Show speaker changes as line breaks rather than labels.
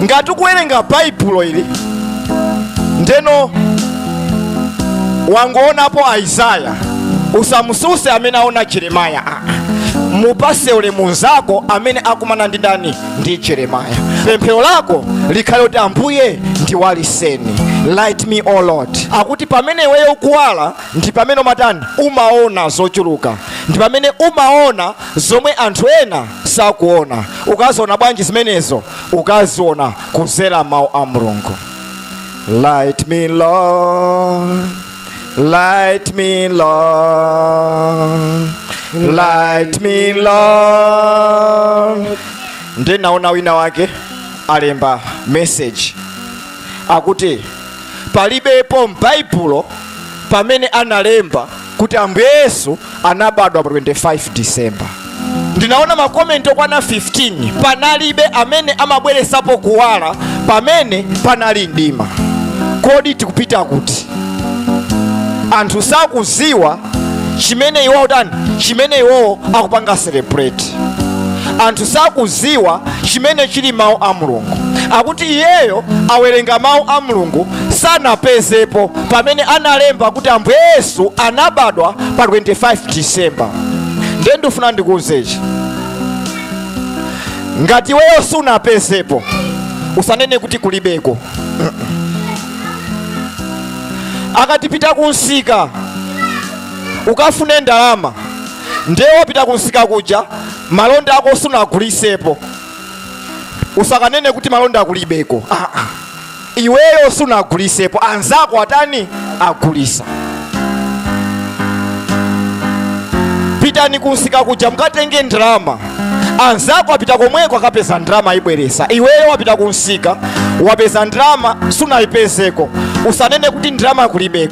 ngati ukuwerenga baibulo ili ndiyeno wangoonapo aisaya usamususe amene aona jeremaya aa mupase ulemu nzako amene akumana ndi ndani ndi jeremaya pemphero lako likhale kuti ambuye ndiwaliseni light me o lord akuti pamene iweyo ukuwala ndi pamene umatani umaona zochuluka ndi pamene umaona zomwe anthu ena sakuona ukaziona bwanji zimenezo ukaziona kuzera mawu a mulungu light me lord light me lord light me lord ndinaona wina wake alemba message akuti palibepo m'baibulo pamene analemba kuti ambuye yesu anabadwa pa 25 december ndinaona makomenti okwana 15 panalibe amene amabweresapo kuwala pamene panali mdima kodi tikupita kuti anthu sakuziwa chimene iwowo tani chimene iwowo akupanga celebrate anthu sakuziwa chimene chili mawu a mulungu akuti iyeyo awerenga mawu a mulungu sanapezepo pamene analemba kuti ambuye yesu anabadwa pa 25 disemba ndiye ndifuna ndikuuzechi ngati iweyo sunapezepo usanene kuti kulibeko akati pita kunsika ukafune ndalama ndiye wapita kunsika kuja malonda ako sunagulisepo usakanene kuti malonda kulibeko ah, ah. iweyo sunagulisepo anzako atani agulisa pitani kunsika kuja mukatenge ndalama anzako apita komweko akapeza ndalama ayibweresa iweyo wapita kunsika wapeza ndalama sunayipezeko usanene kuti ndalama kulibeko